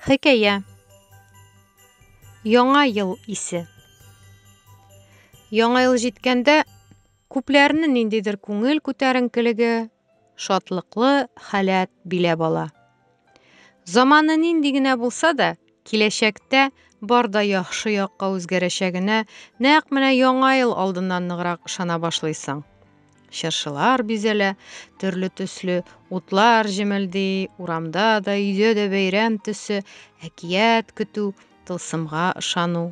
Хикәя Яңа ел исе Яңа ел җиткәндә күпләрне ниндидер күңел күтәренкелеге, шатлыклы халәт биләп ала. Заманы нинди генә булса да, киләчәктә бар да яхшы якка үзгәрәчәгенә нәкъ менә яңа ел алдыннан ныграк ышана башлыйсың. Чыршылар бизәлә, төрле төсле утлар җемелди, урамда да, өйдә дә бәйрәм төсе, әкият көтү, тылсымга ышану.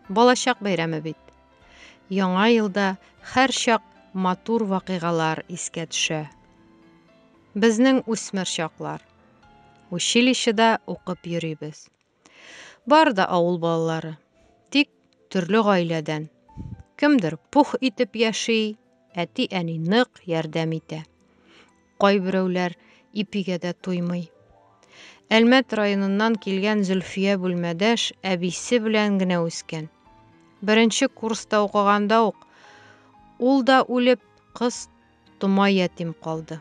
Балачак бәйрәме бит. Яңа елда һәрчак матур вакыйгалар искә төшә. Безнең үсмер чаклар. Училищеда укып йөрибез. Бар да авыл балалары, тик төрле гаиләдән. Кемдер пух итеп яши, әти-әни нык ярдәм итә. Кайберәүләр ипигә дә туймый. Әлмәт районыннан килгән Зөлфия бүлмәдәш әбисе белән генә үскән. Беренче курста укыганда ук ул да үлеп, кыз Тома ятим калды.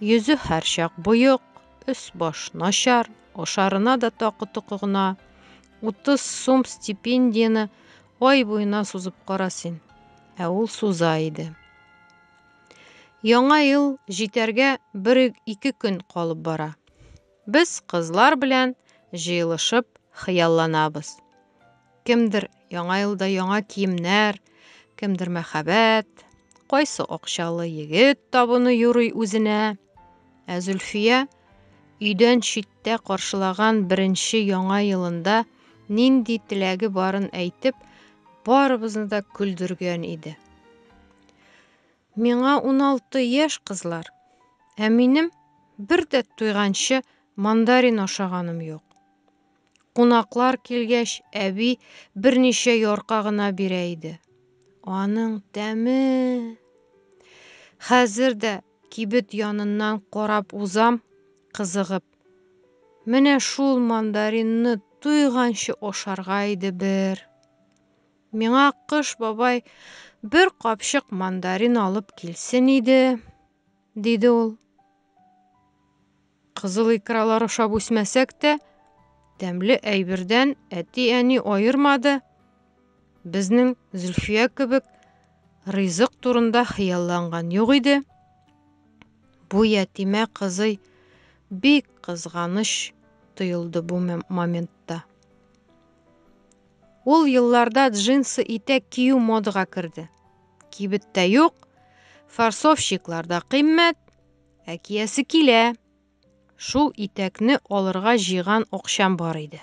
Йөзе һәрчак боек, өс-баш начар, ашарына да такы-токы гына. Утыз сум стипендияне ай буена сузып кара син. Ә ул суза иде. Яңа ел җитәргә бер-ике көн калып бара. Без кызлар белән җыелышып хыялланабыз. Кемдер Яңа елда яңа киемнәр, кемдер мәхәббәт, кайсы акчалы егет табыны юрый үзенә. Ә Зөлфия өйдән читтә каршылаган беренче яңа елында нинди теләге барын әйтеп, барыбызны да көлдергән иде. Миңа уналты яшь, кызлар. Ә минем бер дә туйганчы мандарин ашаганым юк. Кунаклар килгәч, әби берничә ярка гына бирә иде. Аның тәме! Хәзер дә кибет яныннан карап узам, кызыгып. Менә шул мандаринны туйганчы ашарга иде бер. Миңа Кыш бабай бер капчык мандарин алып килсен иде, диде ул. Кызыл икралар ашап үсмәсәк тә, тәмле әйбердән әти-әни аермады. Безнең Зөлфия кебек ризык турында хыялланган юк иде. Бу ятимә кызый бик кызганыч тоелды бу моментта. Ул елларда джинсы итәк кию модага керде. Кибеттә юк, фарсовщикларда кыйммәт, ә киясе килә. Шул итәкне алырга җыйган акчам бар иде.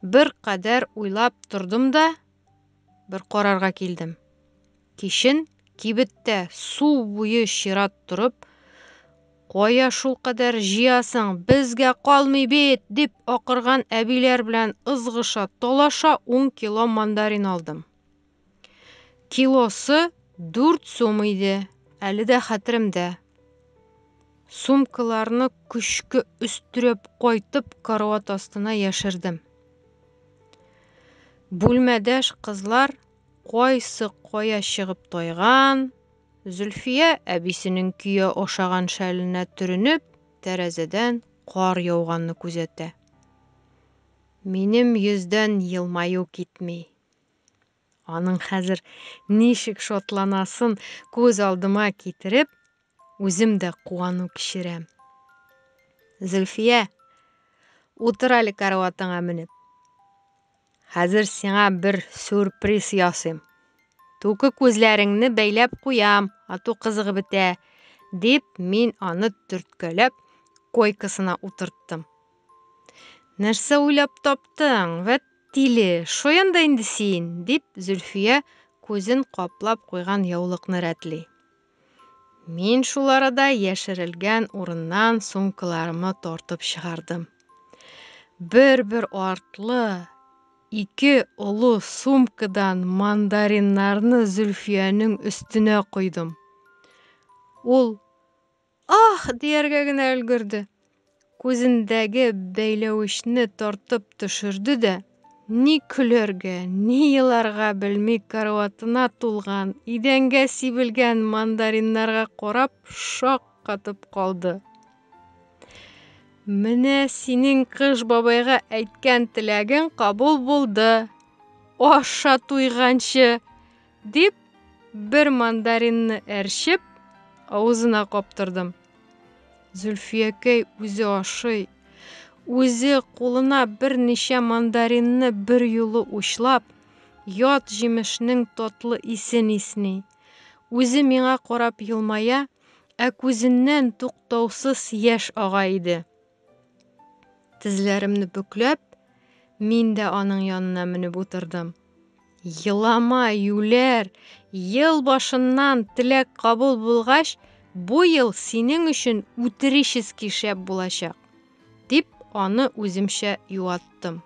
Бер кадәр уйлап тордым да, бер карарга килдем. Кичен кибеттә су буе чират торып, Кая шулкадәр җыясың, безгә калмый бит! дип акырган әбиләр белән ызгыша, талаша ун кило мандарин алдым. Килосы дүрт сум иде, әле дә хәтеремдә. Сумкаларны көчкә өстерәп кайтып карават астына яшердем. Бүлмәдәш кызлар Кайсы кая чыгып тайган? Зөлфия, әбисенең көя ашаган шәленә төренеп, тәрәзәдән кар яуганны күзәтә. Минем йөздән елмаю китми. Аның хәзер ничек шатланасын күз алдыма китереп, Үзем дә куану кичерәм. Зөлфия, утыр әле караватыңа менеп. Хәзер сиңа бер сюрприз ясыйм. Туке күзләреңне бәйләп куям, ату кызыгы бетә, дип мин аны төрткәләп койкасына утырттым. Нәрсә уйлап таптың? Вәт тиле, шаян да инде син, дип Зөлфия күзен каплап куйган яулыкны рәтли. Мин шул арада яшерелгән урыннан сумкаларымны тартып чыгардым. Бер-бер артлы ике олы сумкадан мандариннарны Зөлфиянең өстенә койдым. Ул ах дияргә генә өлгерде. Күзендәге бәйләвечне тартып төшерде дә, ни көләргә, ни еларга белми караватына тулган, идәнгә сибелгән мандариннарга карап шак катып калды. Менә синең кыш бабайга әйткән теләгең кабул булды. Аша туйганчы, дип, бер мандаринны әрчеп, авызына каптырдым. Зөлфиякәй үзе ашый. Үзе кулына берничә мандаринны бер юлы учлап, ят җимешнең татлы исен исни. Үзе миңа карап елмая, ә күзеннән туктаусыз яшь ага иде. Тезләремне бөкләп, мин дә аның янына менеп утырдым. Елама, юләр, ел башыннан теләк кабул булгач, бу ел синең өчен үтерически шәп булачак, дип аны үземчә юаттым.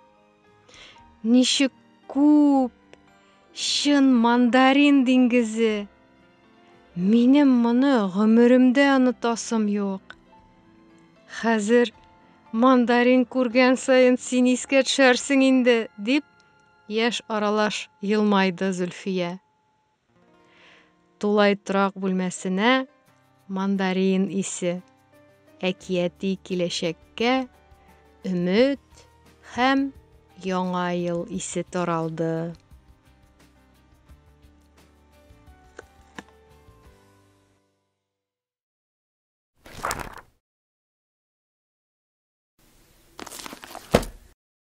Ничек күп! Чын мандарин диңгезе! Минем моны гомеремдә онытасым юк. Хәзер мандарин күргән саен син искә төшәрсең инде, дип, яшь аралаш елмайды Зөлфия. Тулай торак бүлмәсенә мандарин исе, әкияти киләчәккә өмет һәм Яңа ел исе таралды.